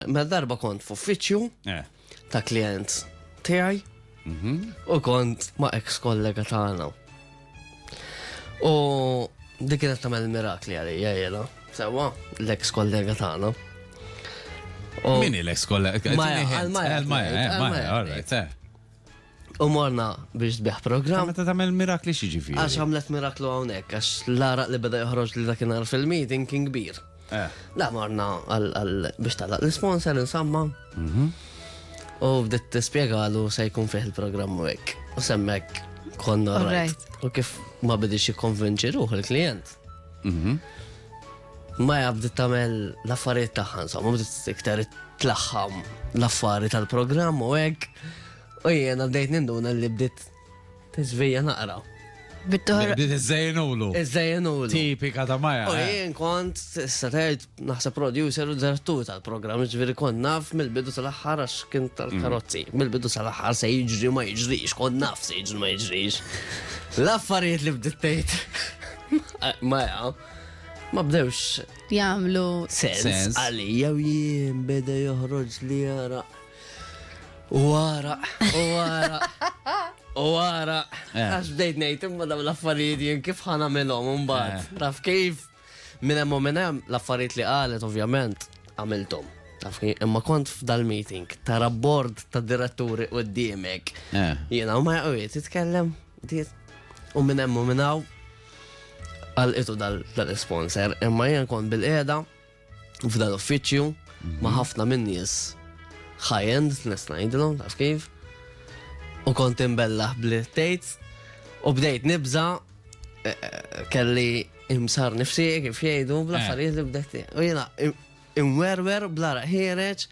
Mela darba kont f'uffiċċju Eh. ta' klient tiegħi u kont ma' ex kollega tagħna. U dik kienet tagħmel mirakli għalija jiena, sewwa l-ex kollega tagħna. U- Min il-ex kolla? Maja, għal-Maja, għal-Maja, għal-Maja, all right, eh. U morna biex sbieħ program. Meta tagħmel mirakli xi ġifieri. Għax għamlet miraklu hawnhekk, għax l-araq li beda joħroġ li dak inhar fil-meeting kien kbir. Eh. Da morna biex talaq l-sponsor insamma. Mhm. U bdiet tispjegalu se jkun fih il-programm u hekk. U semmek konna rajt. U kif ma bidix jikkonvinċi ruħ il-klient. Mhm. Ma jabdi tamel l-affarijiet taħħan, somma bdiet iktar tlaħħam l-affari tal-programm u hekk. U jiena bdejt ninduna li bdiet tiżvija naqra. Bit-toħra. Bdiet iżżejnulu. Iżżejnulu. Tipika ta' Maja. U eh. jien kont s-satajt naħseb producer u direttur tal-programm, ġviri kont naf mill-bidu tal-aħħar għax kien tal-karozzi. Mm. Mill-bidu tal-aħħar se jiġri ma jiġrix, kont naf se jiġri ma jiġrix. L-affarijiet li bdiet tgħid Maja ma bdewx jagħmlu sens għalija u jien beda joħroġ li jara U għara, u għara, u għara. Eh. Għax bdejt nejt imma daw l-affarijiet jien kif ħana melom un bat. Eh. Taf kif? Minn hemm minn hemm l-affarijiet li qalet ovvjament għamiltom. Taf imma kont f'dal-meeting tara bord ta' diretturi u d-diemek. Eh. Jena u ma jgħujiet jitkellem. U minn hemm u minn għal itu dal-sponsor imma jien kont bil-qeda f'dan l-uffiċċju mhm. ma' ħafna minn nies high-end, nes ngħidilhom, taf kif. U kont imbellaħ bli tgħid u bdejt nibża eh, eh, kelli imsar nifsi kif jgħidu bla eh. affarijiet li bdejt. U jiena imwerwer bla raħiereġ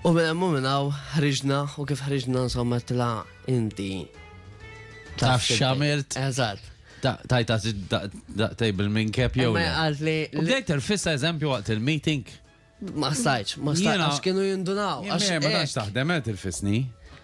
U minn hemm u minn hawn ħriġna u kif ħriġna insomma għedtilha inti. Taf x'għamilt? Eżatt. Tajta daqtej bil-min kep jew. Ma għalt li. U bdejt il-fissa eżempju waqt il-meeting. Ma stajċ, ma stajċ, għax kienu jindunaw. Għax ma taħdem, għed il-fisni.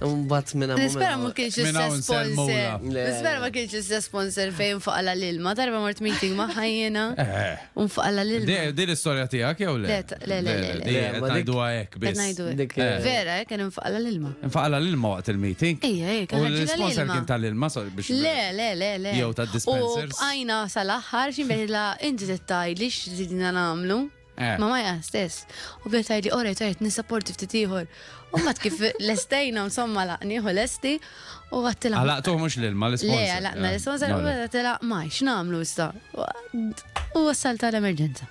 Mbagħad minn hawn. Nispera ma kienx l-istess sponsor. Nispera ma kienx l-istess sponsor fejn faqala l-ilma. Darba mort meeting ma' ħajjena. Eh. U faqala l-ilma. Di l-istorja tiegħek jew le? Le, le, le. Di ngħidu hekk biss. Ngħidu hekk. Eh. Vera, eh, kien infaqala l-ilma. Infaqala l-ilma waqt il-meeting? Ejja, ejja. U l-sponsor kien tal-ilma biex. Le, le, le, le. Jew tad-dispensers. U bqajna sal-aħħar xi meħla inti tittaj li x'ridna nagħmlu. Eh. Ma maja stess. U bdiet tgħidli ora jtajt nisapporti ftit ieħor. U mat kif lestejna insomma laqni u lesti u għattila. Għalaqtu mhux l-ilma l-isponsor. Le, għalaqna l-isponsor u għattila ma x'namlu issa. U wassal tal-emerġenza.